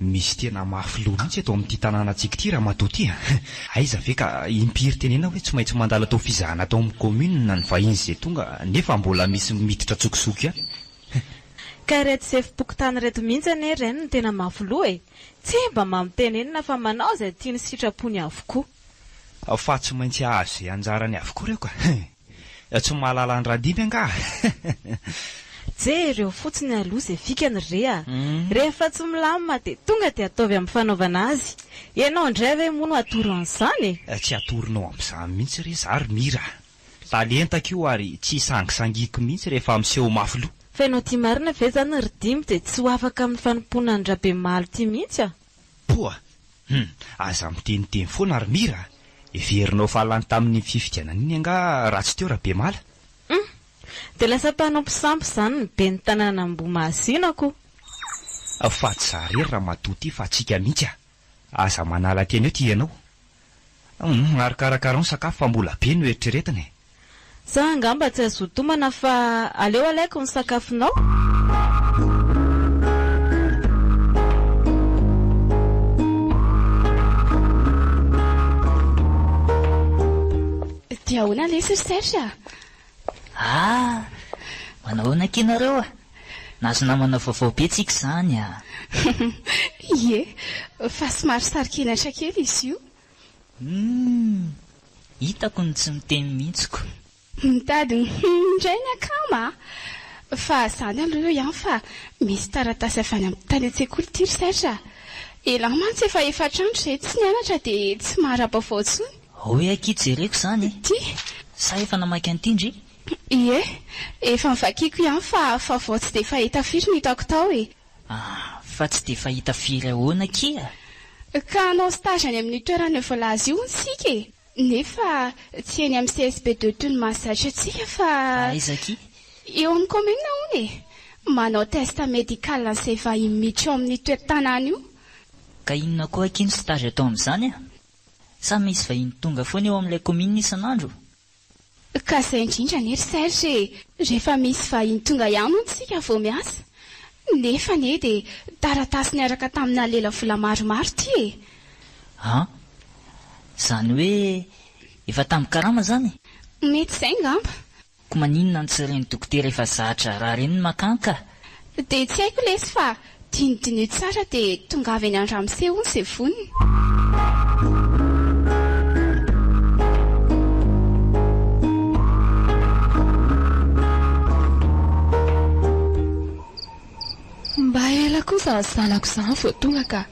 Misy tena mafy loha mihitsy eto amin'ity tanànantsika ity ramatoa ity a! Aiza ve ka impiry tenena hoe tsy maintsy mandalo atao fizahana ato amin'ny kaominina ny vahiny izay tonga nefa mbola misy miditra an-tsokosoko ihany. Ka ireto sefom-pokontany ireto mihitsy anie ren no tena mafy loha e! Tsia mba mampitenenina fa manao izay tiany sy sitrapony avokoa. Fa tsy maintsy hahazo izay anjarany avokoa ireo ka! Tsy mahalala an-dRadimy angaha? Jereo fotsiny aloha izay fikany re a! Rehefa tsy milamina dia tonga dia ataovy amin'ny fanaovana azy. Ianao indray ve moa no atoro an'izany e? Tsy atoronao amin'izany mihitsy re za ry Mira a! Talentako io ary tsy isangisangiako mihitsy rehefa miseho mafy loha. Fa ianao ity marina ve izany ry Dimy dia tsy ho afaka amin'ny fanompoana an'i Rabemalo ity mihitsy a? Poa! Hum! Aza miteniteny foana ry Mira a! Heverinao fa lany tamin'iny fifidianana iny angaha raha tsy teo Rabemala? Hum! Dia lasa mpanompo sampy izany ny ben'ny tanànan'Ambohimahazina ko! Fa tsy za irery ramatoa ity fa antsika mihitsy a! Aza manala tena eo ity ianao! Humm ary karakarao ny sakafo fa mbola be no eritreretina e. Za angamba tsy azo tomana fa aleo alaiko ny sakafonao. Dia ahoana lesy ry Serge a? Ah! Manao ahoana akia nareo a? Nahazo namana vaovao be tsika izany ah! Ie, fa somary saro-kenatra kely izy io. Humm! Hitako ny tsy miteny mihitsy ko. Mitady ny humm indray ny akama ah! Fa izany aloha eo ihany fa misy taratasy avy any amin'ny tany an-tsekoly ity ry Serge ah! Elah mantsy efa efatra andro izay tsy nianatra dia tsy mahara-baovao intsony. Hoy aho ity jereko izany eh! Ty? Sa efa namaky an'ity ndry? Ie, efa novakiako ihany fa fa vao tsy dia fahita firy no hitako tao e! Ah, fa tsy dia fahita firy ahoana akia? Ka hanao stage any amin'io toerana voalaza io hono isika e! Nefa tsy eny amin'ny CSB de Tony mahazatra antsika fa. Aiza akia? Eo amin'ny commune hono e! Manao test médical an'izay vahiny miditra ao amin'io toe-tanàna io. Ka inona koa akia no stage atao amin'izany a? Sa misy vahiny tonga foana eo amin'ilay commune isan'andro? Ka zay indrindra anie ry Serge e! Rehefa misy vahiny tonga ihany hono isika vao miasa. Nefa anie dia taratasy niaraka tamina lela vola maromaro ity e! An! Izany hoe efa tambin-karama izany? Mety izay ngamba. Koa maninona no tsy ren'ny dokotera efa zatra raha reniny makà ka? Dia tsy haiko lesy fa dinidiniho tsara dia tongava eny an-dramose hono ze vonona. Mba ela koa zany zanako zany vao tonga ka.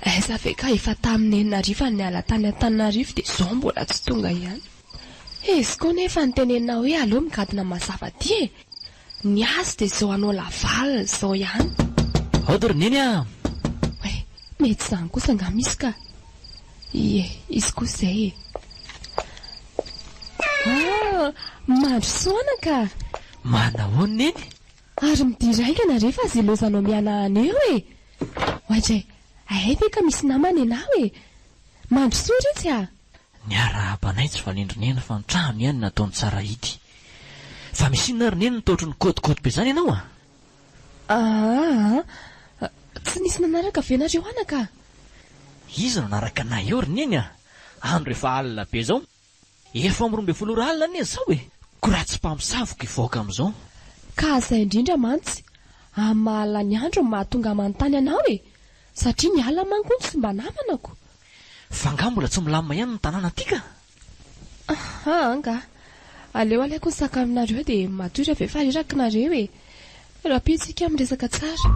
Aiza ve ka efa tamin'ny enina hariva niala tany Antananarivo dia zao mbola tsy tonga ihany. Izy koa nefa nitenenina hoe aleo migadona mazava aty e. Ny azy dia izao hanao laval izao ihany. Hody ry Neny a! Hoe, mety izany kosa angaha misy ka! Ie, izy koa izay e! Ah! Mandrosoana ka! Manahoana Neny? Ary midira haingana re fa zelozanao mihanahana eo e! Oay dray, hay ve ka misy namana ianao e! Mandrosoa Ritsy a! Niarahaba anay tsy fanendry neny fa ny trano ihany nataony tsara ity. Fa misy inona ry neny nitaotry ny kôty kôty be izany ianao a? Aa! Tsy nisy nanaraka ve nareo anaka? Iza no nanaraka anay eo ry neny a? Andro efa alina be izao. Efa amin'ny roa ambin'ny folo ora alina anie izao e! Ko raha tsy mpamosavy ko hivoaka amin'izao. Ka izay indrindra mantsy, amin'ny maha-alina ny andro no mahatonga manontany anao e! Satria ny alina manko hono tsy mba namanako. Fa nga mbola tsy milamina ihany ny tanàna ty ka? Aha nga. Aleo alaiko ny sac aminareo de matory avy eo fa reraky nareo e. Rapio tsika miresaka tsara.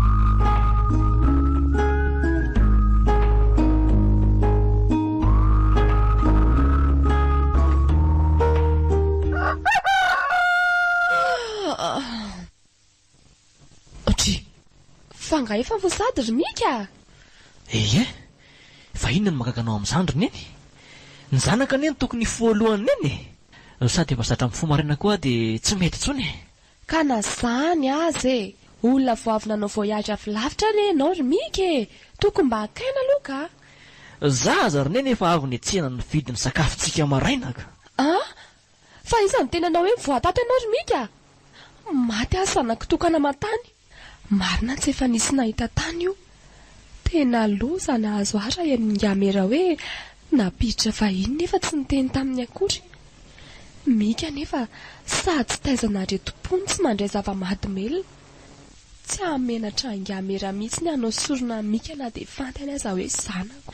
Audrey, Fa nga efa vao sady ry Mika a! Ehe, fa inona no mahagaga anao amin'izany ry Neny? Ny zanaka anie no tokony hifoha alohan'i Neny e! No sady efa zatra mifoha maraina koa dia tsy mety intsony e! Ka na zany aza e! Olona vao avy nanao voyage avy lavitra anie ianao ry Mika e! Tokony mba akaina aloha ka! Za aza ry Neny efa avy nihetsehana nividy ny sakafontsika maraina ka! An! Fa iza no tena nanao hoe voatapy anao ry Mika? Maty aho zanako tokana aman-tany. Marina tsy efa nisy nahita tany io. Tena loza nahazo ahy raha ian'i Ingamera hoe nampiditra vahiny nefa tsy niteny taminy akory. Mika anefa sady tsy taizana aretim-po no tsy mandray zava-mahadomelina. Tsy hahamenatra Ingamera mihitsy ny hanao sorona an'i Mika na dia fantany aza hoe zanako.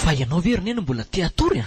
Fa ianao ve ry Neny mbola te-hatory a?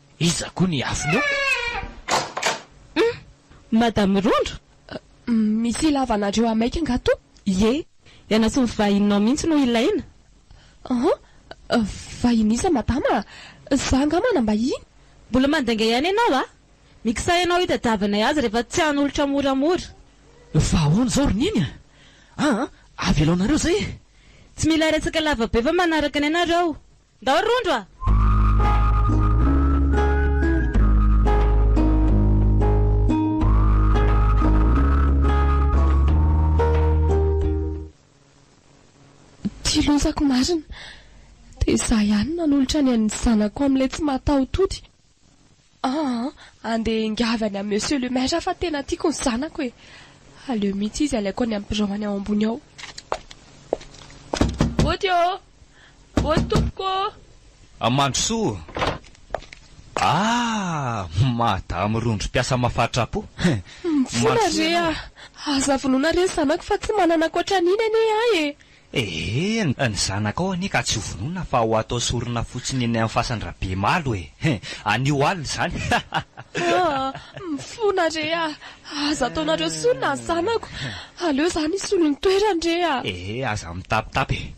Iza koa ny afony eo? Hum! Madame Rondro? Misy ilavanareo ahy maika angaha to? Ie! Ianao sy ny vahininao mihitsy no ilaina. Aha! Vahiny iza Madama a? Za angaha manam-bahiny? Mbola mandainga ihany ianao a! Mikisaha ianao hitadiavanay azy rehefa tsy hanolotra moramora. Fa ahoana izao ry Neny a? Aa! Avelaonareo izay e! Tsy mila resaka lava be fa manaraka anay nareo. Ndao rondro a! Ty lozako marina. Dia za ihany nanolotra ny an'ny zanako amin'ilay tsy mahataho-tody. Aa andeha hiangavy any amin'ny Monsieur le Maire aho fa tena tiako ny zanako e! Aleo mihitsy izy alaiko any amin'ny birao any ao ambony ao. Bôty ô! Bôty tompoko ô! A Mandrosoa! Aa madame rondro mpiasa mafatra-po! Mifoha re a! Aza vonoina re ny zanako fa tsy manana ankoatra an'iny anie ahy e! Ee, ny zanakao anie ka tsy ho vonoina fa ho atao sorona fotsiny eny amin'ny fasan-dRabemalo e! anio alina izany hahahha. Aa, mifona re a! aza ataonareo sorona ny zanako, aleo izaho no hisolo ny toerany re a! Ee, aza mitapitapy e!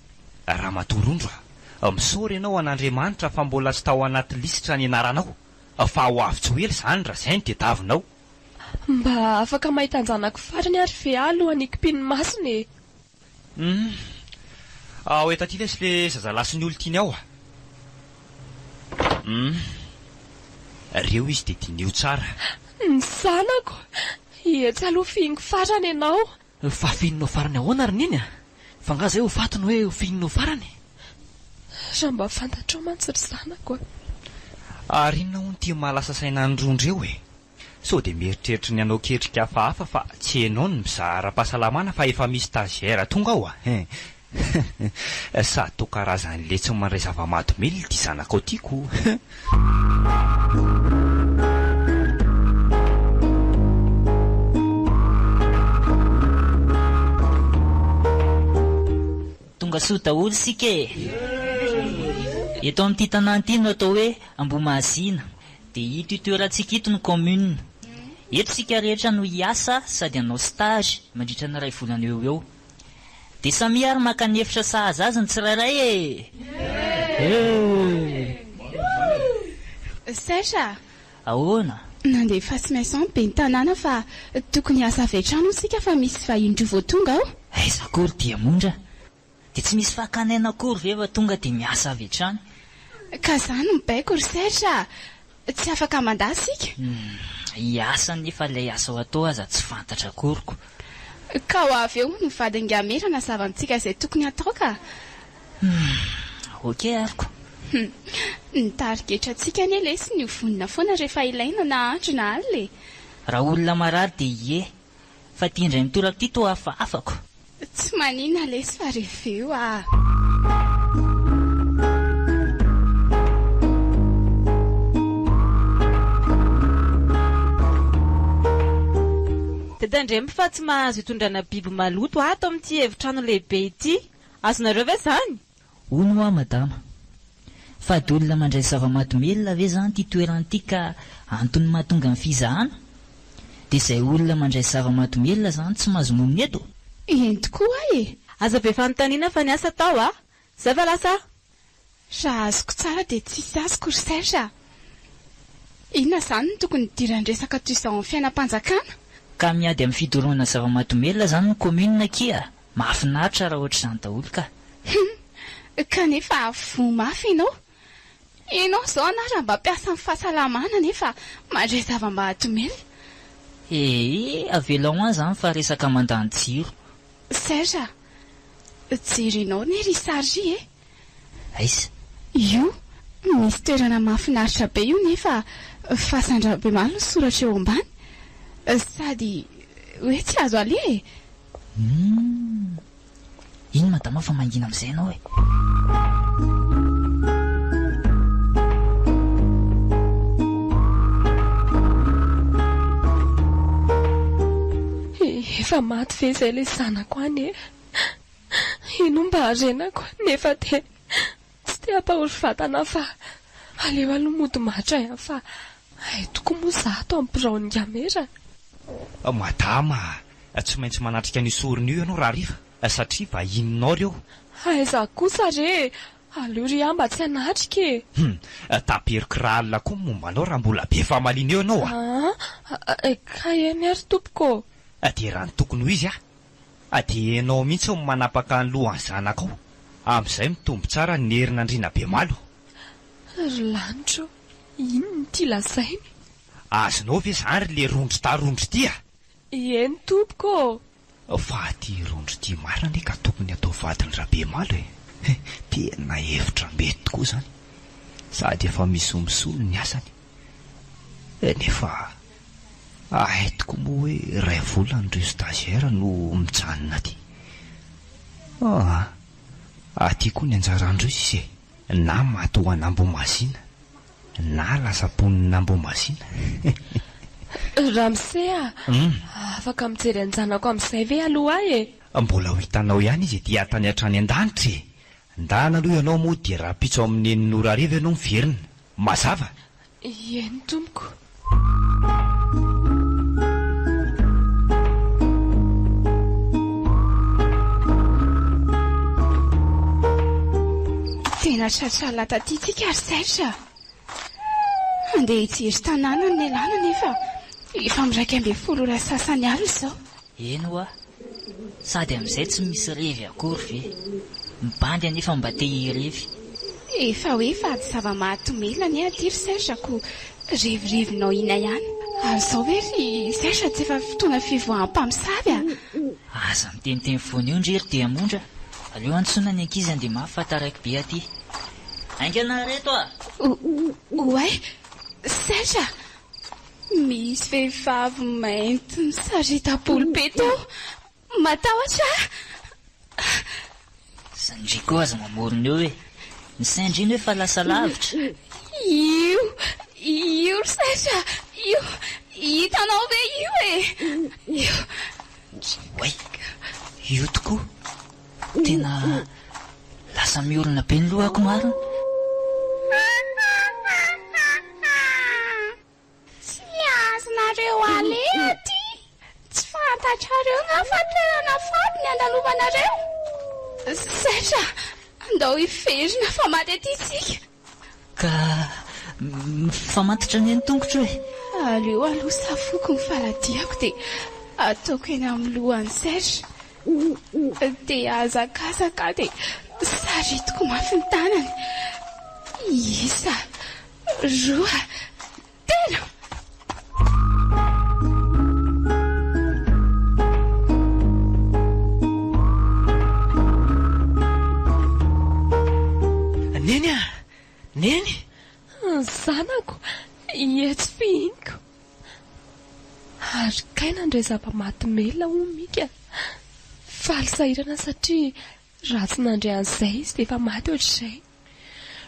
Ramatoa Rondro a! misaora ianao an'Andriamanitra fa mbola tsy tao anaty lisitra ny anaranao, fa ho avy tsy ho ela izany raha izay no tediavinao. Mba afaka mahita an-janako farany ary ve aho alohan'ny hikopin'ny masony e! Humm. Ao eto aty lesy le zazalahy sy ny olon-tiany ao a. Humm. Reo izy de diniho tsara. Ny zanako. Etsy aloha fihiniko farany ianao. Fa fihinao farany ahoana ry Neny a? Fa nga zay ho faty no hoe ho fihinao farany? Raha mba fantatrao mantsy ry zanako a. Ary inona hono ity maha lasa saina an'ireo ndreo e? Sao dia mieritreritry ny hanao ketrika hafahafa fa tsy ianao no mizaha ara-pahasalamana fa efa misy stagiaire tonga ao hein! Sa toa karazan'ilay tsy mandray zava-mahadomelina ity zanakao ity kou! Tonga soa daholo isika e! Eto amin'ity tanàna ity no atao hoe Ambohimahazina. Dia ito toerantsika ito ny commune. Eto isika rehetra no hiasa sady hanao stage mandritra ny iray volana eo ho eo. Dia samia ary maka ny efitra sahaza azy ny tsirairay e! Euhh! Serge a! Ahoana? Nandefasy message ben'ny tanàna fa tokony hiasa avy hatrany hoy isika fa misy vahiny roa vao tonga ao. Aiza akory dia monja? Dia tsy misy fakana aina akory ve fa tonga dia miasa avy hatrany? Ka za no mibaiko ry Serge a! Tsy afaka mandà isika? Hiasa anie fa ilay asa ho atao aza tsy fantatra akory ko! Ka ho avy eo hono ny vadin-dRamera hanazava amintsika izay tokony hatao ka! Hum! Ok ary ko! Hum! Ny tarigetrantsika anie lesy ny ho vonona foana rehefa ilaina na andro na alina e! Raha olona marary dia ie Fa ty indray mitoraka ty toa hafahafako. Tsy maninona lesy fa reveo ah. Dadandremby fa tsy mahazo itondrana biby maloto ato amin'ity efitrano lehibe ity. Azonareo ve izany? Hono hoa madama. Fady olona mandray zava-madomelina ve zany ty toerana ty ka antony mahatonga ny fizahana? Dia izay olona mandray zava-madomelina zany tsy mahazo monina eto? Eny tokoa hoa e! Aza be fanontaniana fa niasa tao a! Zay va lasa a! Raha azoko tsara dia tsisy azoko ry Serge a! Inona izany no tokony hidiran-dresaka toy izao amin'ny fiainam-panjakana? Ka miady amin'ny fidorohana zava-madomelina zany ny commune akia a! Mahafinaritra raha ohatr'izany daholo ka! Hum! Kanefa voa mafy ianao! Ianao izao ana raha mba mpiasa amin'ny fahasalamana nefa mandray zava-mahadomelina! Ee, avelao an izany fa resaka mandany jiro! Serge a! Jerinao ne ry Sarri e! Aiss. Io misy toerana mahafinaritra be io nefa fasan-dRabemaro no soratra eo ambany. Sady hoe tsy azo aleha e! Humm. Iny madama fa mangina amin'izay ianao e! Efa maty ve izay ilay zanako any e? Ino mba harenako nefa dia tsy te hampahory vatana fa aleo aloha mody matra ihany fa hay tokoa moa za ato amin'ny biraon'i Ngamera. Madama a, tsy maintsy manatrika an'io sorona io ianao rahariva satria vahininao ireo. Hay za kosa re e, aleo re aho mba tsy hanatrika e. Hum, taperiko raha alina koa ny momba anao raha mbola be famaliana eo ianao a. Aa, kay eny ary tompoko ô. Dia raha ny tokony ho izy a! Adienao mihitsy ny manapaka ny lohan'ny zanakao, amin'izay mitombo tsara ny herin'andriana bemalo. Ry lanitra ô, inona ity lazainy? Azonao ve izany ry le rondro ta rondro ity a! Eny tompoko ô! Fa ity rondro ity marina anie ka tokony atao vadin'i Rabemalo e! He, tena hevitra mety tokoa izany, sady efa misolo misolo ny asany. Nefa ahay tokoa moa hoe iray volana ireo stagiaires no mijanona aty. Aa! Aty koa ny anjarandreo sisa e! Na maty ho an'Ambohimazina na lasa mponin'Ambohimazina. Ramose a! Afaka mijery an'i Janako amin'izay ve aloha ahy e? Mbola ho hitanao ihany izy ety tany hatrany an-danitra e! Ndana aloha ianao moa dia rahampitso amin'ny nen'i Nora hariva ianao miverina. Mazava? Ieny tompoko. Tena tratra lahy taty tsika ry Serge a! Handeha hijery tanàna ny lehilahy anefa efa miraika ambin'ny folo ora sasany alina izao. Eny hoa, sady amin'izay tsy misy revy akory ve? Ny bandy anefa mba te hirevy. Efa hoe vady zava-mahatomely anie aty ry Serge ko revirivinao ina ihany. Ary zao ve ry Serge tsy efa fotoana fivoahan'ny mpamosavy a! Aza miteniteny foana eo ndry ry Diamondra, aleo antsoina ny ankizy handeha mafy fa taraiky be aty. Haingana ry reto a! O, oay, Serge a! Misy vehivavy mainty misarita polpety ao. Matahotra aho. Sandriko aza mamorona eo e. Ny sendriny hoe fa lasa lavitra. Io, io ry Sacha, io, hitanao ve io e? Io. Oay, io tokoa. Tena lasa miorina be ny lohako marina. Tsy azonareo aleha ty. Tsy fantatrareo nga fa toerana faty ny andalovanareo? Zay fa andao hiverina fa maty aty isika. Ka mifamatotra anie ny tongotro e! Aleo aloha safoko ny faladiako dia ataoko eny amin'ny lohan'i Serge. Dia hazakazaka aho dia saritiko mafy ny tanany. Isa. Roa. Tena! Neny a! Neny! Zanako, etsy fihiniko. Ary kay nandray zava-maty mail hono Mika. Faly sahirana satria raha tsy nandray an'izay izy dia efa maty ohatr'izay.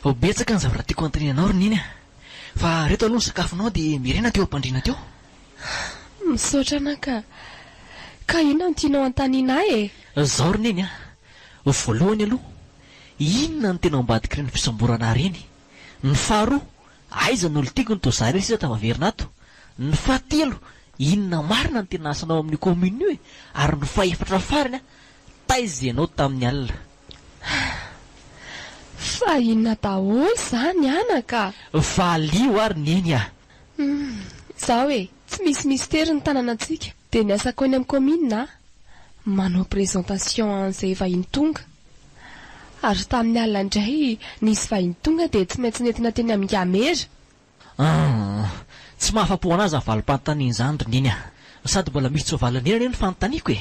Ho betsaka ny zavatra tiako hanontaniana anao ry Neny a! Fa reto aloha ny sakafonao dia mirena teo am-pandriana teo. Misaotra anà ka! Ka inona no tianao hanontaniana ahy e? Izao ry Neny a! Ho voalohany aloha, inona no tena ao ambadik'ireny fisamborana ahy ireny? Ny faharoa, aiza no olon-tiako no toa izaho ilay sisa tafaverina ato? Ny fahatelo, inona marina no tena asanao amin'io commune io e? Ary ny fahefatra farany a! Taiza ianao tamin'ny alina? Fa inona daholo izany anaka? Valio ary neny ah! Humm, izao e, tsy misy mistery ny tananantsika, dia ny asako eny amin'ny kaominina ah, manao présentation an'izay vahiny tonga. Ary tamin'ny alina indray nisy vahiny tonga dia tsy maintsy nentina teny amin'ny Gamera, Aah! Tsy mahafa-po anah zany valim-panontaniana zany ry Neny ah! Sady mbola misy tsy voavalin'ny hirany io ny fanontaniako e!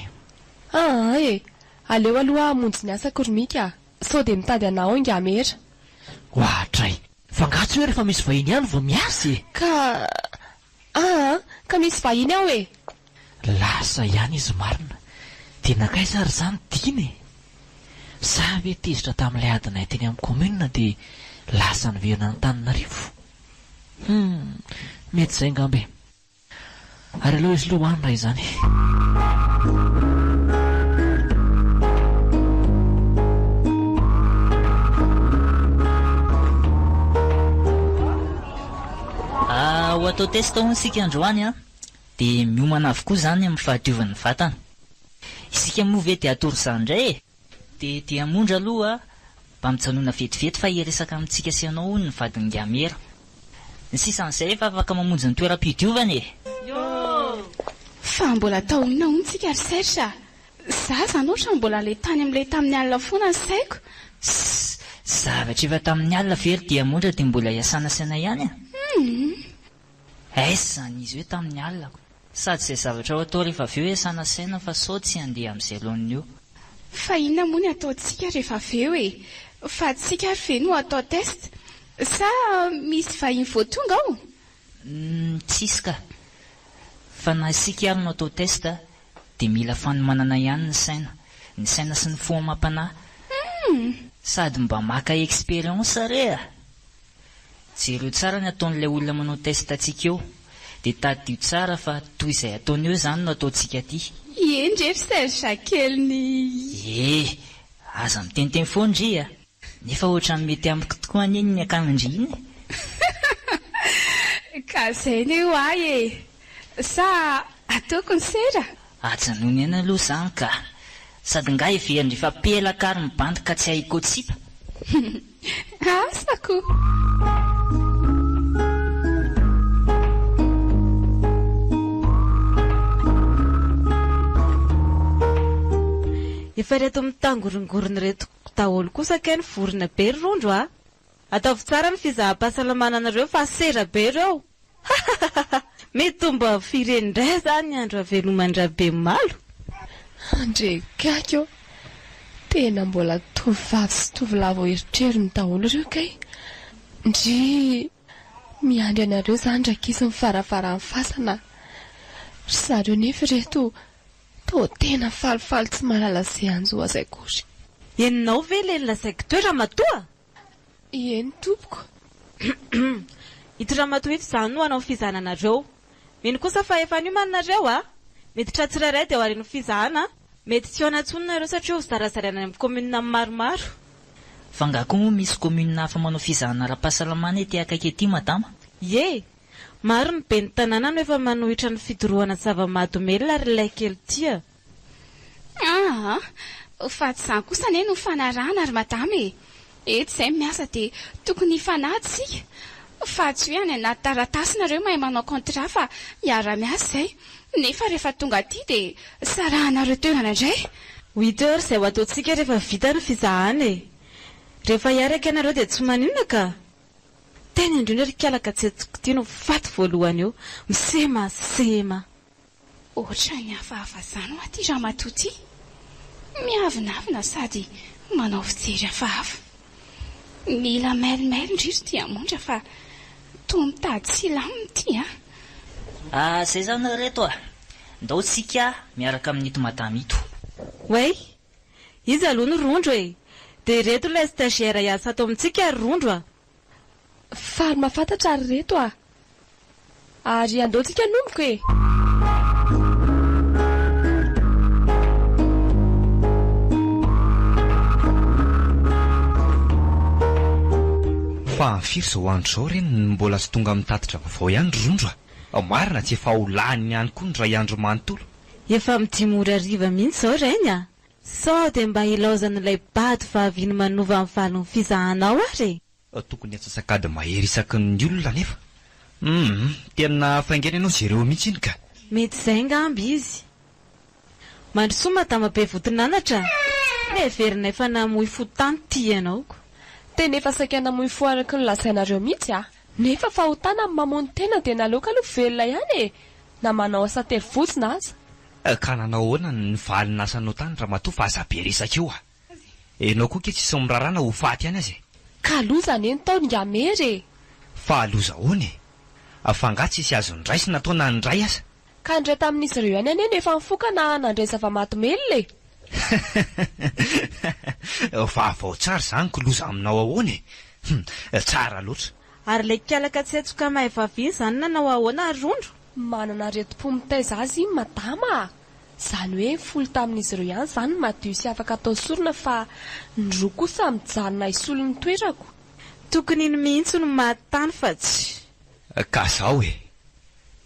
Aah e! Aleo aloha aho hamonjy ny asako ry Mika ah! Sao dia mitady anah ao Ingamera! Ohatray! F'angaha tsy hoe rehefa misy vahiny ihany vao miasa e! Ka! Aah! Ka misy vahiny ao e! Lasa ihany izy marina. Dia nankaiza ary izany Dina e? Sa ve tezitra tamin'ilay adinay teny amin'ny commune dia lasa niverina an'Antananarivo? Hum, mety izay angamba e. Ary aleo aiza aloha hoany raha izany? Ho atao test hono isika androany an! Dia miomana avokoa izany amin'ny fahadiovan'ny vatana. Isika moa ve dia hatory izany indray e? Dia dia moa ndra aloha mba mijanona vetivety fa hiresaka amintsika sy ianao hono ny vadin'i Gamera. Ny sisan'izay efa afaka mamonjy ny toeram-pidiovana e! Fa mbola atao inona hono tsika ry Serge a? Za izany ohatra mbola ilay tany amin'ilay tamin'ny alina foana ny saiko. Ssss! Zavatra efa tamin'ny alina ve ry dia moa ndra dia mbola hiasanasaina ihany a? Humm! Aiza izany izy hoe tamin'ny alina ko. Sady izay zavatra ho atao rehefa avy eo e sanasaina fa sao tsy handeha amin'izay laoniny eo. Fa inona moa ny ataontsika rehefa avy eo e? Fa tsika ary ve no atao test? Sa misy vahiny vao tonga ao? Humm tsisy ka! Fa na isika ary no atao test dia mila fanomanana ihany ny saina. Ny saina sy ny fo amam-panahy. Humm! Sady mba maka expérience re a! Jereo tsara ny ataon'ilay olona manao test antsika eo, dia tadidio tsara fa toy izay ataony eo izany no ataontsika aty. Ie ndry ry Serge kely ny. Ie, aza miteniteny foana ndry a! Nefa ohatran'ny mety amiko tokoa anie iny akanondry iny e! Ka izay anie ho'ahy e! Sa ataoko ny sera? Ajanony eny aloha zany ka! Sady nga heverindry fa pelaka ary mibandy ka tsy hay hikotsipa! Humm! Asa ko! Efa reto mitangorongorona reto daholo kosa kay ny vorona be ry rondro a! Ataovy tsara ny fizaham-pahasalamana anareo fa sera be reo! Hahahahha! Mety ho mba firen indray zany ny andro haveloman-dRabemimalo? Andre gaigy ô! Tena mbola tovovavy sy tovolahy vao erotrerony daholo ireo kay! Ndrii! Miandry anareo zany rankizy ny varavaran'ny fasana a! Ry zareo nefa ireto toa tena falifaly tsy mahalala ze hanjo azy akory! Enonao ve le ny lazaiko teo ramatoa? Ieny tompoko. Ity ramatoa ito izany no hanao ny fizahananareo. Mino kosa fa efa niomana nareo a! Miditra tsirairay dia oharin'ny fizahana. Mety tsy hihaona intsony nareo satria ho zarazaraina any amin'ny commune maromaro. Fa nga koa moa misy commune hafa manao fizahana ara-pahasalamana ety akaiky ety madama? Ie! Maro ny ben'ny tanàna no efa manohitra ny fidorohana zava-mahadomelina ary ilay kely tia. Aa! fa tsy izany kosa anie no fanarahana ry madama e! etsy izay ny miasa dia tokony hifanaja isika fa tsy hoe any anaty taratasy nareo mahay manao contrat fa miara miasa izay nefa rehefa tonga aty dia sarahanareo toerana indray! Huit heures izay ho ataontsika rehefa vita ny fizahana e! rehefa hiaraka ianareo dia tsy maninona ka! tena indrindra ry kialaka tsy etoky ity no faty voalohany eo! msema! sema! Ohatran'ny hafahafa zany hoa ty ramatoa ty. Miavonavona sady manao fijery hafahafa. Mila mail mail ndry ry diamondra fa toa mitady silamo ty a. Ah zay zany ry reto a! Ndao tsika miaraka amin'ito madama ito. Way! Iza aloha ny rondro e? Dia ireto ilay stagiaire hiasa ato amintsika ry rondro a! Faly mahafantatra ry reto a! Ary andao tsika hanomboka e! Fa firy izao andro izao re no mbola tsy tonga amin'ny tatitra vaovao ihany ry rondro a! Marina tsy efa ho lany ihany koa ny iray andro manontolo. Efa amin'ny dimy ora hariva mihitsy izao rainy a! Sao dia mba ilaozan'ilay bado vahaviny manova ny valin'ny fizahanao ary e! Tokony atsasak'ady mahery isaky ny olona anefa. Humm tena hafaingaina ianao Jereo mihitsy iny ka. Mety izay angamba izy. Mandrosoa madama be voton'anatra a! Heverina efa namoy fo tany ity ianao ko. Tena efa saika namoy fo araky ny lazainareo mihitsy a! Nefa fahotana ny mamono tena dia naleoko aloha velona ihany e! Na manao asa tery vozona aza. Ka nanao ahoana ny valiny lasa anao tany ramatoa fa aza be resaka eo a! Enao koa ke tsisy mirara na ho faty ihany aza e! Ka loza anie ny taony nga mery e! Fa loza ahoana e! Fa nga tsisy azo niraisina atao na niray aza? Ka niray tamin'izy ireo ihany anie no efa nifoka na nandray zava-mahadomelina e! Vaovao tsara izany ko loza aminao ahoana e! Hum! Tsara loatra! Ary le kialaka tsy hetsoka mahay vavy iny zany nanao ahoana ry rondro? Manana aretim-po mitaiza azy iny madama a! Zany hoe folo tamin'izy ireo ihany zany ny madio sy afaka atao sorona fa ny roa kosa mijanona hisolo ny toerako. Tokony iny mihitsy no maty tany fa tsy. Ka zao e!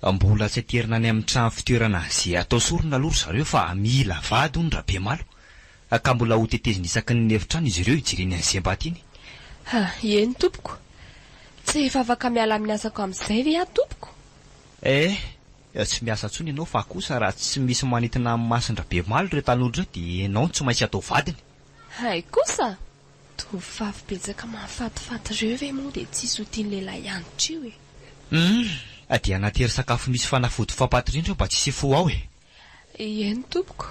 Mbola tsy aterina any amin'ny trano fitoerana ze atao sorona aloha ry zareo fa mila vady hono Rabemalo Ka mbola ho tetezina isaky ny efitrano izy ireo hijereny an'i Sembat iny. Ha, eny tompoko. Tsy efa afaka miala amin'ny asako amin'izay ve aho tompoko? Eh, tsy miasa intsony ianao fa kosa raha tsy misy manintona an'i Masin-dRabemaly ireo tanora ireo dia ianao no tsy maintsy atao vadiny. Hay kosa! Tovovavy betsaka mahafatifaty ireo ve moa dia tsisy ho tian'ny lehilahy hianatra eo e? Hum, dia hanatery sakafo misy fanafody fampaty indrindra mba tsy hisy fo ao e! Eny tompoko.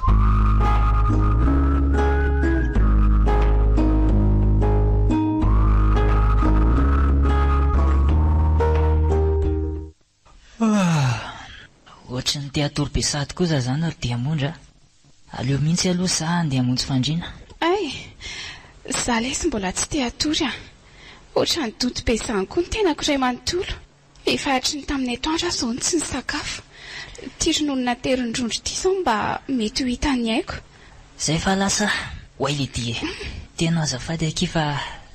Ohatry ny te hatory be sahady koa za zany ry diamondra a! Aleo mihitsy aloha za handeha hamonjy fandriana. Ay! Za lesy mbola tsy te hatory a! Ohatran'ny donto be izany koa ny tenako iray manontolo. Efa hatry ny tamin'ny atoandro aho izao no tsy nisakafo. Ity rononona terin-drondro ity izao mba mety ho hita ny aiko. Zay fa lasa. Oay Lydie e! Tena azafady akia fa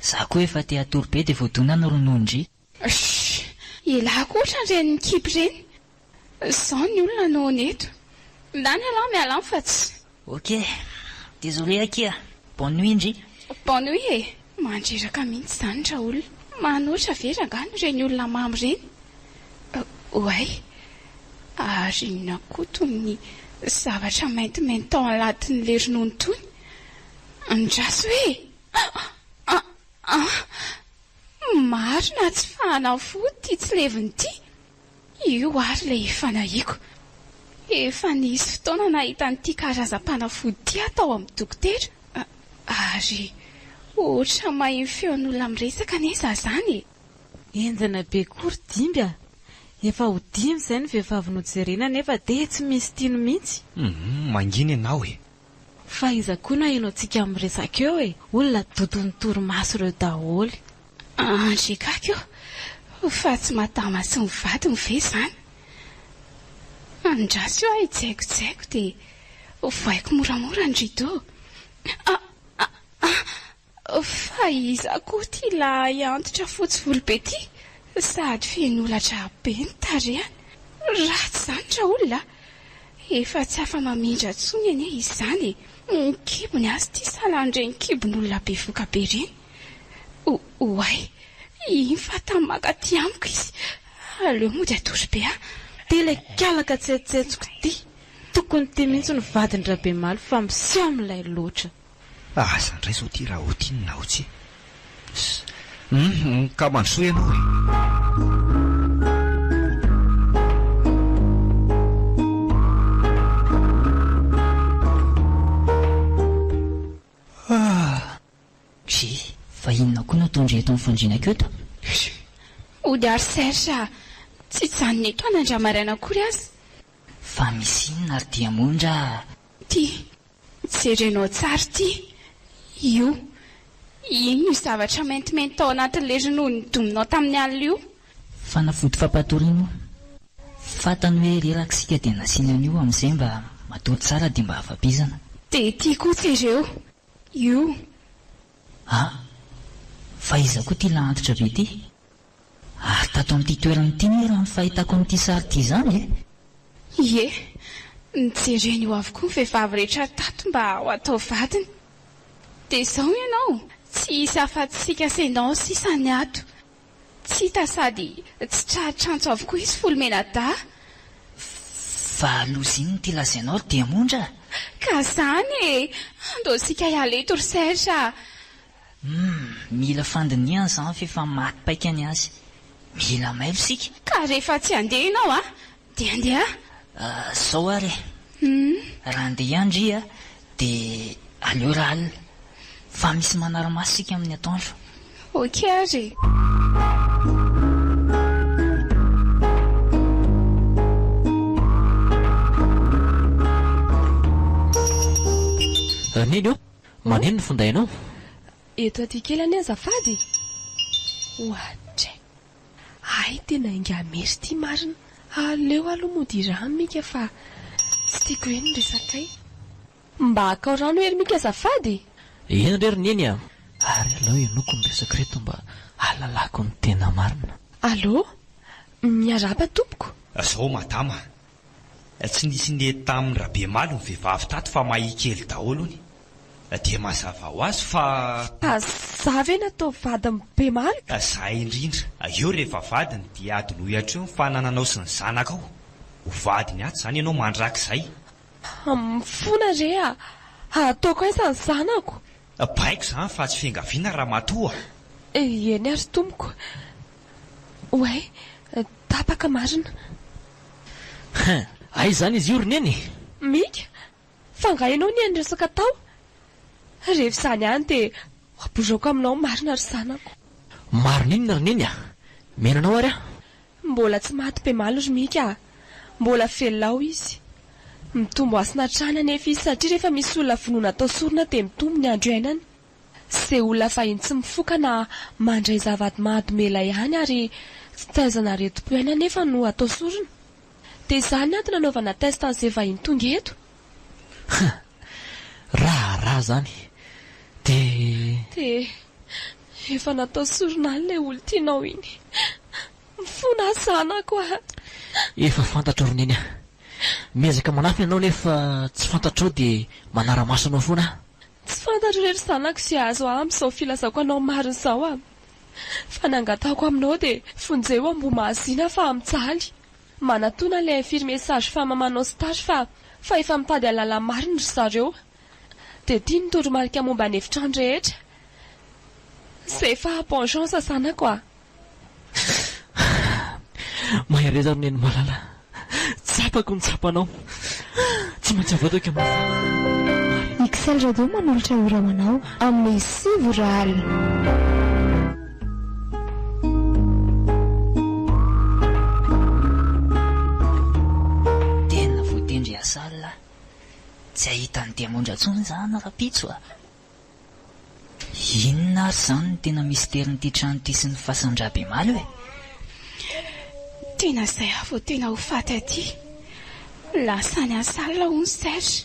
za koa efa te hatory be de voadona ny ronono ndry. Shh! Elah koa ohatran'ireny mikipy ireny. Zao ny olona no neto. Lany ialahy mialany fa tsy. Ok. Désolé akia. Bonne nuit ndry. Bonne nuit e. Mandreraka mihitsy izany raolona. Manoatra ve rangano ireny olona mamy ireny? Oay. Ary inona koa tony ny zavatra maintimainty tao anatin'le ronono tony? Andraso hoe e! An! An! An! Marina tsy fanafody ity tsilevina ity. Io àry ilay fanahiako. Efa nisy fotoana nahita an'ity karazam-panafody ity aho tao amin'ny dokotera, ary hoatra mahin'ny feon'olona miresaka anie izaho izany e! Henjana be koa ry Dimby a! Efa ho dimy izay ny vehivavy nojerena nefa dia tsy misy tino mihitsy. Humm, mangina ianao e! Fa iza koa naheno antsika miresaka eo e! Olona dodon'ny torimaso ireo daholo. Andry Kaka io fa tsy madama sy ny vadiny ve izany? Andraso aho hijaikojaiko dia ovaiko moramora ny rideau. Ah! Ah! Ah! Fa iza koa ity lahy antitra fotsy volo be ity? Sady feno holatra be ny tarehany. Ratsy izany raolona a! Efa tsy afa-mamindra intsony anie izany e! Ny kibony aza ity salan'ireny kibon'olona bevoka be ireny. Oay! Iny fa tamy maka aty amiko izy. Aleo mody atory be a! Ity ilay kalaka tsetsentsiko ity. Tokony ity mihitsy no vadin-dRabemaly fa miseho milay loatra. Aza ndray zao ty raha otin na otsy Humm ka mandrosoa ianao e. Gee, fa inona koa no ataondry eto amin'ny fandriana Cute a? Hody ary Serge a! Tsy hijanona etoana andriamaraina akory aza. Fa misy inona ary dia moa ndra? Ty, Jerenao tsara ity, io. Inona io zavatra maintimainty tao anatin'ny le ronono nodominao tamin'ny alina io? Fanafody fampatoriana io. Fantany hoe reraka isika dia nasiany an'io amin'izay mba matory tsara dia mba afa-bizana. Dia ity koa jereo, io. Ah! Fa iza koa ity lahantitra be ity? Ary tato amin'ity toerana ity moa raha ny fahitako an'ity sary ity izany e! Ie, nojereny eo avokoa ny vehivavy rehetra tato mba ho atao vadiny. Dia izao ianao, tsy hisy afa-tsy Kasenao sisa ny ato. Tsy hita sady tsy tratr'antso avokoa izy Folomena dahy. Fa aloha izay n'ity lazainao ry Diamondra a! Ka izany e! Andao isika hiala eto ry Serge a! Humm mila fandinihana izany f'efa maty paika ny azy. Mila mailo isika. Ka rehefa tsy handeha ianao a dia handeha ahy. Ahh zao ary e. Humm. Raha handeha ihany ndry a dia aleo raha alina fa misy manara-maso isika amin'ny atoandro. Ok ary e. Neny ô, Manino ny findainao? Eto aty kely anie azafady e! Oadray! Hay tena ingahy Merry ity marina! Aleo aloha mody hiraha Mika fa tsy tiako be ny resakay. Mba hakao rano ery Mika azafady e! Eny re ry Neny a! Ary aleo henoiko ny resaka ireto mba hahalalako ny tena marina. Allo! Miarahaba tompoko! Zao madama, Tsy nisy nety tamin Rabemaly ny vehivavy tato fa mahia kely daholo hono e! Dia mazava ho azy fa. Fa za ve natao vadin Bemaly ka? Za indrindra. Eo rehefa vadiny dia adinoy hatreo ny fanananao sy ny zanakao. Ho vadiny ato zany ianao mandrakizay. Mifona re a! Hataoko aiza ny zanako? Baiko izany fa tsy fiangaviana ramatoa. Eny ary tompoko. Oay, tapaka marina. Hein, aiza izany izy io ry neny e? Mika, fa angaha ianao nihaino resaka tao? Rehefa izany ihany dia abozaoko aminao marina ry zanako. Marina inona ry neny a? Mihaino anao ary aho. Mbola tsy maty be maly ry Mika a! Mbola velona ao izy. Mitombo hasina hatrany anefa izy satria rehefa misy olona vonoina atao sorona dia mitombo ny andro iainany. Izay olona fahiny tsy mifoka na mandray zava-mahadomelina ihany ary tsy taizana aretim-po ihany anefa no atao sorona. Dia izany ny antony nanaovana test an'izay vahiny tonga eto. Huh! Raharaha zany de. Dia efa natao sorona ilay olon-tianao iny. Mifona aho zanako a! Efa fantatro ry neny a! Miezaka manafina ianao nefa tsy fantatrao dia manara-maso anao foana aho. Tsy fantatro re ry zanako izay azo ahy amin'izao filazako anao marina izao a! Fa ny angatahako aminao dia vonjeo ambohimahazina fa mijaly. Manatona le infirmier sage femme manao stage fa fa efa mitady alala marina ry zareo de tia ny toromarika momba ny efitrano rehetra c'est efa bonjon sasana quoi. Mahereza ry Neny malala, tsapako ny tsapanao. Tsy maintsy avoato eky amin'ny fanahy. Ixelle Radio manolotra ora ho anao amin'ny sivy ora alina. Tena voatendry hiasala a! Tsy hahita an'i Diamondra intsony izaho na rahampitso a! Inona ary izany no tena misterin'ity trano ity sy ny fasan-dRabemalo e? Tena izay aho vao tena ho faty aty. Lasa any an-salina hono Serge.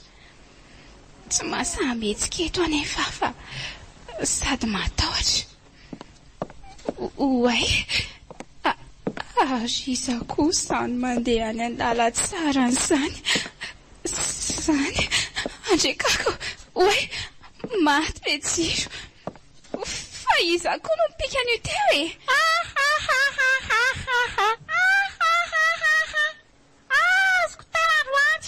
Tsy mahasahy mihetsika eto anefa aho fa sady matahotra. Oay! Ary izaho koa izany mandeha any an-dalan-tsarany izany, izany, andriakako, oay! Maty be jiro! Fa iza koa no nipika an'io teo e? Ahahahahahahahahahahahahaha! Azoko tara androany!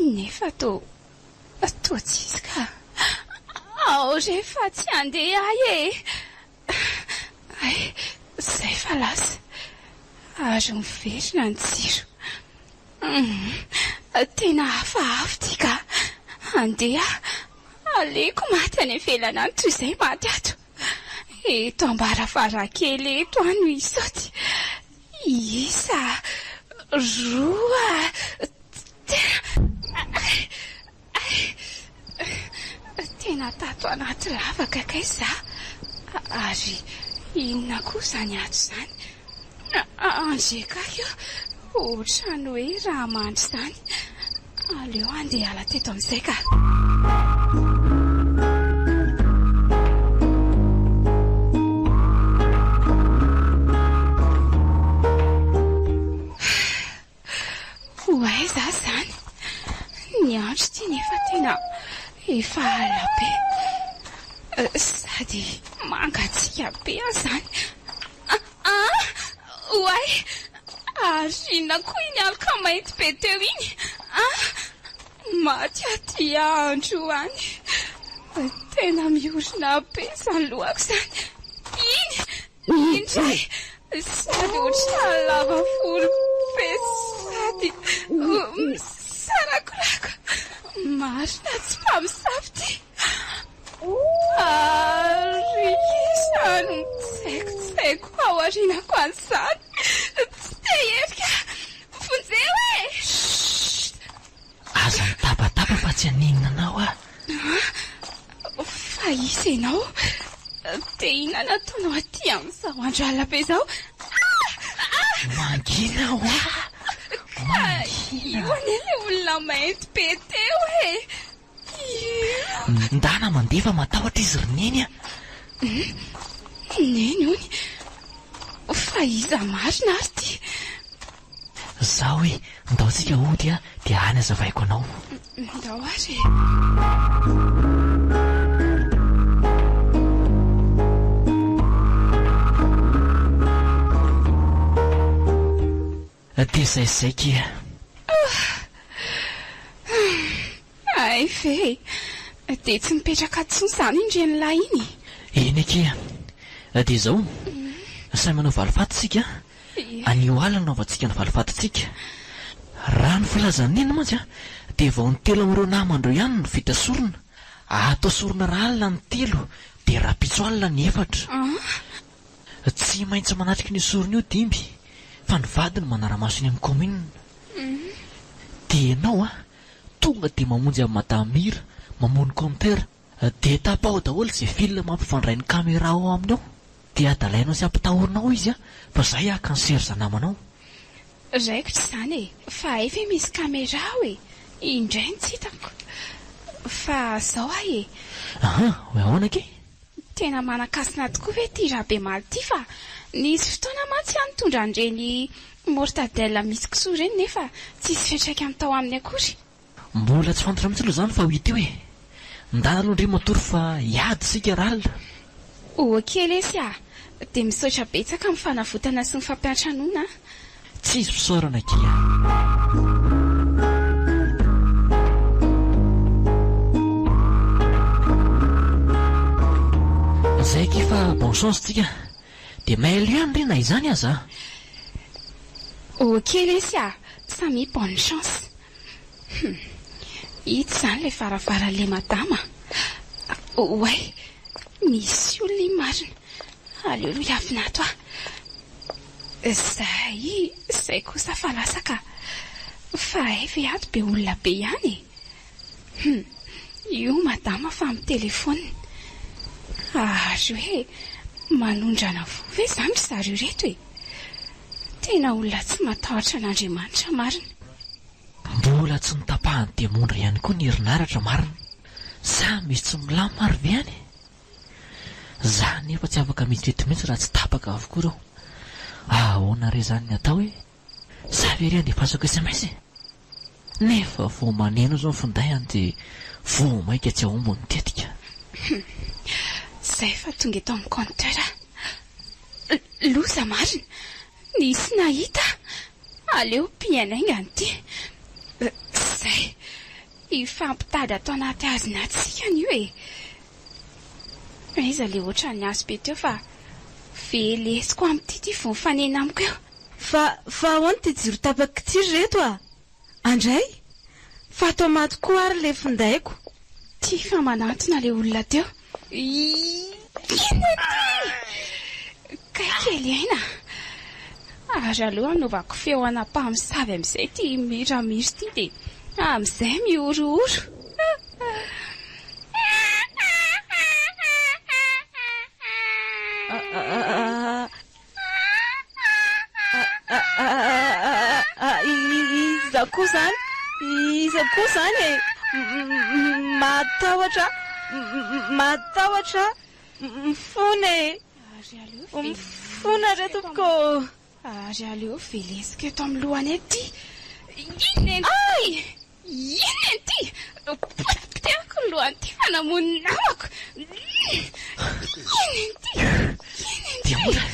Nefa toa toa tsy izy ka. Ao re fa tsy handeha ahy e! Hay, izay fa lasa. Ary miverina ny jiro. Humm, tena hafahafa ity ka. Handeha aho. Aleoko maty any ivelany any toy izay maty ato. Eto am-baravarankely eto aho no hisaoty. Isa, roa, telo. Tena tato anaty lavaka kay za, ary inona koa izany ato izany? Ange kay ô, ohatran'ny hoe raha mandry izany. Aleo handeha hiala teto amin'izay ka. Ho aiza aza izany? Ny andro ity nefa tena efa alina be. Sady mangatsiaka be aza izany. Aa! Oay! Ary inona koa iny aloka mainty be teo iny aa! Maty aty andro any! Tena miorina be izany lohako izany! Iny! Iny indray! Sady ohatran'ny lava volo be sady misarakorako! Marina tsy mpamosavy ity! Ary izany mitsaikotsaiko ao aorianako any izany. Tsy te hiherika. Vonjeo e! Chut! Aza mitabataba fa tsy haninona anao aho. Fa iza ianao? Dia inona no ataonao aty amin'izao andro alina be izao? Mangina hoa! Ka io anie ilay olona mainty be teo e! Ndana mandeha fa matahotra izy ry Neny a! Neny ony, fa iza marina ary ty? Zao hoe, ndao tsika hody a, dia any azavaiko anao. Ndao ary e! Aty zay zay kia. Ahh. Hay ve dia tsy mipetraka intsony izany iny ren'lahy iny e. Eny akia. Dia izao, sahy manao valifaty isika, anio alina no hanaovantsika ny valifatintsika. Raha ny filazan'i Neny mantsy dia vao ny telo amin'ireo namandreo ihany no vita sorona. Atao sorona rahalina ny telo dia rahampitso alina ny efatra. An. Tsy maintsy manatrika an'io sorona io dimby fa ny vady no manara-maso eny amin'ny kaominina. Dia ianao an, tonga dia mamonjy an'i Madame Mira, mamono compteur. Dia tapaho daholo izay fil mampifandray ny caméra ao aminy ao. Dia adalainao sy ampitahorina ao izy an, fa zay haka ny serza namanao. Raiko tsy izany e, fa hay ve misy caméra ao e? Indray no tsy hitako. Fa zao hay e. Ahaa, hoe ahoana kay? Tena manan-kasina tokoa ve ity Rabemaly ity fa nisy fotoana mantsy aho nitondra an'ireny mortadelle misy kisoa ireny nefa tsisy fiantraikany tao aminy akory. Mbola tsy fantatra mihitsy aloha izany fa ho ity hoe ndana aloha ndry matory fa hiady isika ral. Ok lesy a! Dia misaotra betsaka amin'ny fanavotana sy ny fampiantranoana a! Tsisy fisaorana akia a. Zay akia fa bon chance tsika de mail ihany re na izany aza a. Ok lesy a, Samy bonne chance. Hum. Ito zany le varavaranle madama a. Oay. Misy olona iny marina. Aleo aloha hiavina ato a. Zay zay kosa fa lasa ka! Fa hay ve ato be olona be ihany e! Hum! Io madama fa mitelefona! Ary hoe manondrana voa ve zany ry zareo reto e! Tena olona tsy matahotra an'Andriamanitra marina! Mbola tsy notapahan'ny demondra ihany koa ny herinaratra marina! Sa misy tsy milamina ary ve any e! Za anefa tsy afaka mitety mihitsy raha tsy tapaka avokoa ireo. Ahoana re zany ny atao e? Za ve re andefasako sms e? Nefa vao maneno zao ny findainy dia vao mainka tsy ahomby ny tetika. Humm. Zay fa tonga eto amin'ny compteur a. Loza marina. Nisy nahita a. Aleo pihainainga an'ity. Zay. Hifampitady ato anaty hazina tsika ny io e! Aiza le otran'ny aso be teo fa velesiko amin'ity ty vao mifanena amiko eo. Fa fa ahoana ty jiro tapaky ty ry reto a! Andray! Fa ato amaty koa ary le findaiko. Ty fa manantona le olona teo. Inona ity? Kay kely aina a! Ary aleo anaovako feo ana mpamosavy amin'izay ity miramiry ity dia amin'izay mihorohoro. Iza koa izany? Iza koa izany e? Mahatahotra aho. Mahatahotra aho. Mifona e. Mifona re tompoko ô. Ary aleo velesiko eto amin'ny lohany ety. Inona e? Ay! Inona ity? Potipotehiko ny lohan'ity fanamoan'ny namako. Inona ity? Inona ity? Diamondra!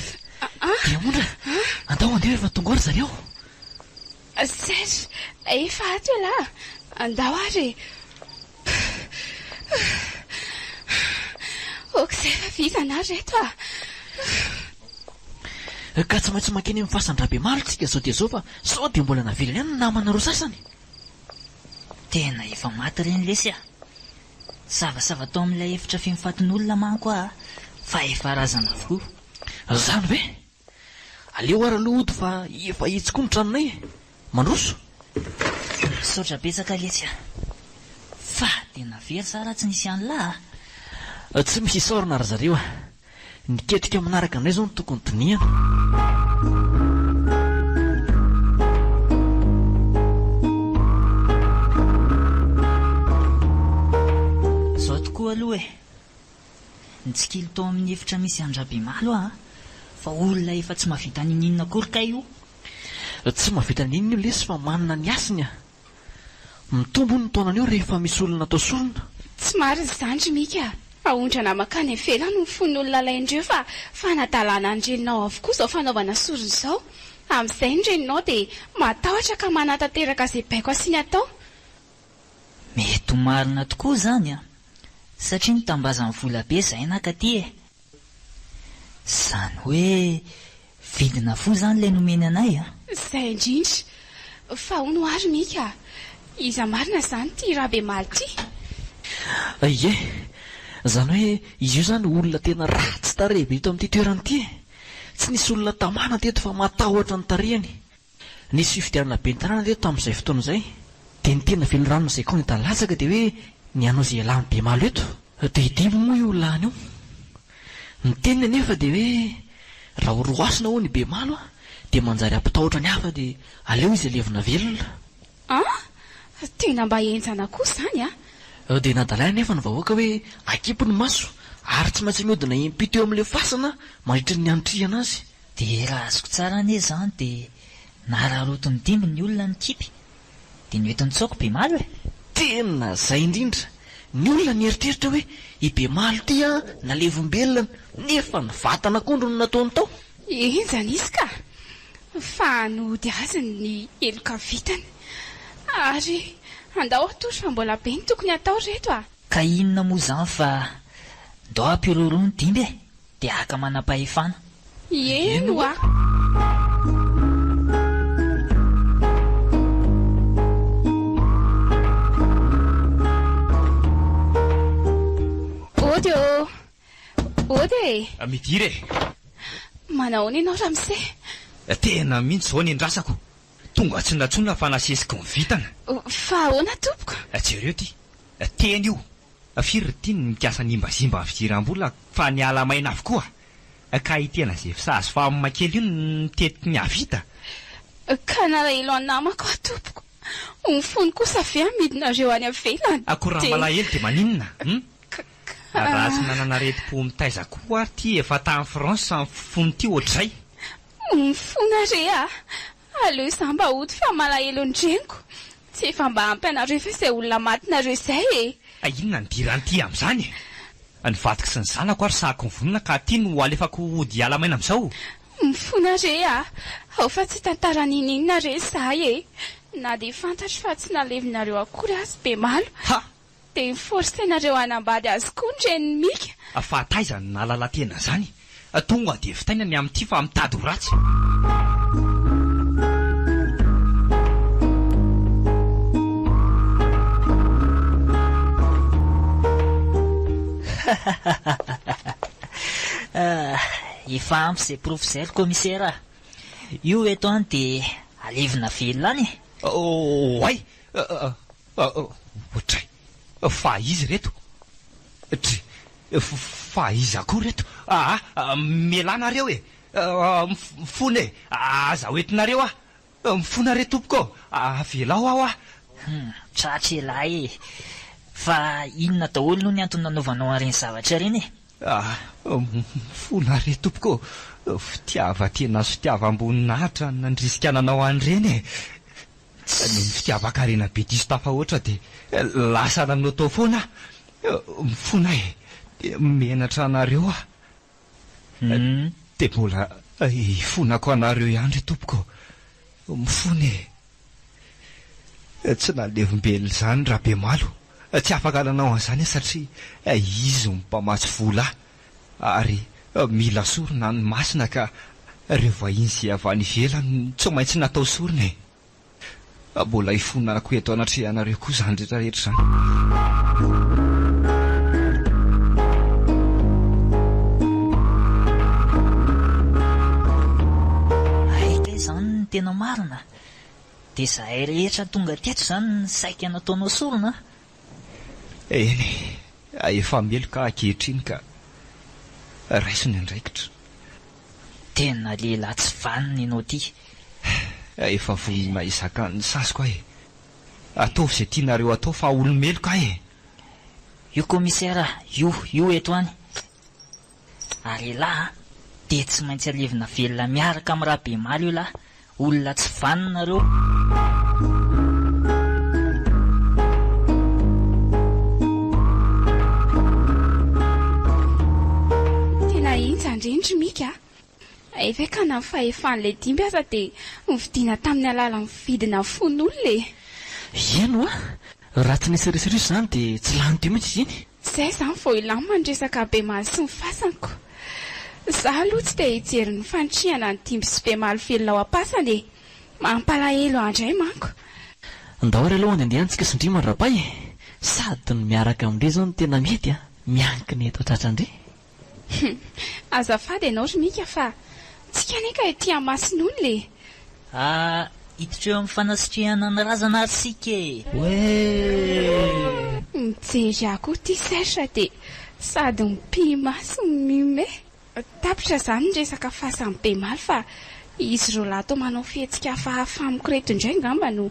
Diamondra! Andao handeha efa tonga ao ry zareo. Serge, efa ato ialahy. Andao ary e. Ok, izay fa vizana ary ireto ah. Ka tsy maintsy mankeny amin'ny fasan-dRabemalo tsika izao dia izao fa sao dia mbola navelany any ny namana roa sasany. Tena efa maty ireny lesy ah! Savasava tao amin'ilay efitra feno fatin'olona manko ah, fa efa razana avokoa. Zany ve? Aleo ary aloha hody fa efa etsy koa ny tranonay e! Mandroso! Misaotra betsaka lesy ah! Fa dia navery sa raha tsy nisy an'lah ah? Tsy misy isaorana ry zareo ah! Ny ketrika manaraka indray izao no tokony dinihana. Zao tokoa aloha e! Nitsikilo tao amin'ny efitra misy an-dRabemalo aho fa olona efa tsy mahavita ninininona akory kay io. Tsy mahavita ninininona io lesy fa manana ny hasiny a! Mitombo ny taonan'io rehefa misy olona atao sorona. Tsy marina izany ry Mika a! Aondrana makany ivelany ny fon'olona alain'ireo fa fanadalana ny reninao avokoa izao fanaovana sorona izao. Amin'izay ny reninao dia matahotra ka manatanteraka izay baiko asiany atao. Mety ho marina tokoa izany a! Satria mitambazan'ny volabe izahay nankaty e! Zany hoe vidina fo zany ilay nomeny anay a! Zay indrindra! Fa hono ary Mika a! Iza marina zany ty Rabemaly ty? Ie! Zany hoe izy io zany olona tena ratsy tarehy be eto amin'ity toerana ity e! Tsy nisy olona tamana teto fa matahotra ny tarehiny. Nisy fifidianana ben'ny tanàna ve tamin'izay fotoana izay? Dia ny tena velon'ny ranona izay kony da latsaka dia hoe ny hanao izay hialan'ny bemalo eto? Dia idily moa io lany io? Ny teniny anefa dia hoe raha ho roasina hono i bemalo dia manjary hampitahotra ny hafa dia aleo izy alevina velona. An! Tena mba henjana koa izany an! Dia nadalaina anefa ny vahoaka hoe akipy ny maso ary tsy maintsy mihodina im-pito eo amin'ilay fasana mandritra ny nianitrihana azy. Dia raha azoko tsara anie izany dia nararotin'ny dimby ny olona ny kipy dia noentin'i Tsaoky Bemalo e! Tena izay indrindra! Ny olona nieritreritra hoe i Bemalo ity an nalevombelona nefa ny vatan'akondro no nataony tao! Enga nisy ka! Fa nody azy ny heloka vitany! Ary andao hatory fa mbola be ny tokony hatao ry reto a! Ka inona moa izany fa ndao hampiroro ny dimby e! Dia haka manam-pahefana. Eny ho'a. Ody ô! Ody e! Midira e! Manahoana ianao ramose? Tena mihitsy izao ny andrasako. Tonga tsy natsoina fa nasesiky ny vintana. Fa ahoana tompoko? Jereo ity. Teny io. Fa firy ry tiany ny mikasa hanimbazimba ny fidiram-bola fa ny ala maina avokoa ka i tena ze fisazy fa mma kely io no mitety ny hahavita. Ka nalahelo an namako aho tompoko, ny fony kosa ve hamidinareo any avelany Akory raha dia malahelo dia maninona hum? Raha tsy nanana aretim-po mitaiza koa ary ty efa tany France ny fony ty ohatr'izay. Mifona re ah! Aleo izaho mba hody fa malahelo ny reniko Tsy efa mba ampy anareo ve izay olona matinareo izay e! Ka inona no diran'ity amin'izany e! Ny vadiko sy ny zanako ary sahako mivonona ka aty no alefako hody hiala maina amin'izao! Mifona re a! Ao fa tsy tantara ninoninona re izahay e! Na dia fantatro fa tsy nalevinareo akory aza dia malo! Ha! Dia mi force anareo hanambady azy koa ny renin'i Mika. Fa taiza no nahalala tena zany? Tonga de vitaina ny amin'ity fa mitady ho ratsy. Efa ampy izay porofo izay ry Kaomisera a! Io eto an dia alevina velona any e! Oay! Dry, Fa iza ireto? Dry, Fa iza koa ireto? Aa, Mialà nareo e! Mifona e! Aza ho entinareo aho! Mifona re tompoko ô! Avelao aho aho! Hum, tratra elah e! Fa inona daholo no ny antony nanaovanao an'ireny zavatra ireny e? Aa, Mifona re tompoko ô! Fitiavan-tena sy fitiavam-boninahitra no nandrisika nanao an'ireny e! Ny fitiavan-karena be diso tafahoatra dia lasa nanao tao foana aho. Mifona aho e. Dia menatra anareo aho. Dia mbola hifonako anareo ihany ry tompoko. Mifona e. Tsy nalevim-belona izany Rabemalo. Tsy afaka nanao an'izany aho satria izy no mpamatsy vola ahy. Ary mila sorona ny masina ka reo vahiny zay avy any ivelany tsy maintsy natao sorona e! Mbola ifonako eto anatrehanareo koa zany rehetra rehetra zany. Tena marina, dia zahay rehetra tonga teto izany saika nataonao sorona Eny e, efa meloka ankehitriny ka. Raiso ny andraikitra. Tena lehilahy tsy vanona ianao ity. Efa vonona hizaka ny saziko aho e. Ataovy izay tianareo atao fa olo-meloka aho e. Io Commissaire io, io eto any. Ary elah a! Dia tsy maintsy alevina velona miaraka amin'i Rabemaly io lahy! Olona tsy vanona ireo! Tena hentsa ndry ny Mika a! Eveka na ny fahefan'ilay dimby aza dia novidiana tamin'ny alalan'ny vidina fon'olona e! Eny ho'a, raha tsy nisy risoriso izany dia tsy lany teo mihitsy izy iny. Izay izany vao hilamina ny resaka bemaly sy ny fasanko. Izaho aloha tsy te hijery ny fanitrihana ny dimby sy bemaly velona ao am-pasana e! Mampalahelo ahy indray manko. Ndao ary aloha andiandiantsika sy ndrimo ry Rapay e! Sady ny miaraka amin-dry izao no tena mety a! Miankina eto an-tratrandry. Hum. Azafady ianao ry Mika fa tsika anie ka ety Amasinola e! Ah iditra eo amin'ny fanasitrihana ny razana ary isika e! Wee! Mijery ahy koa ity serge dia sady mipimaso no mihomehy. Tapitra izany ny resaka fasan'i Bemaly fa izy roalahy toa manao fihetsika hafahafa amiko ireto indray angamba no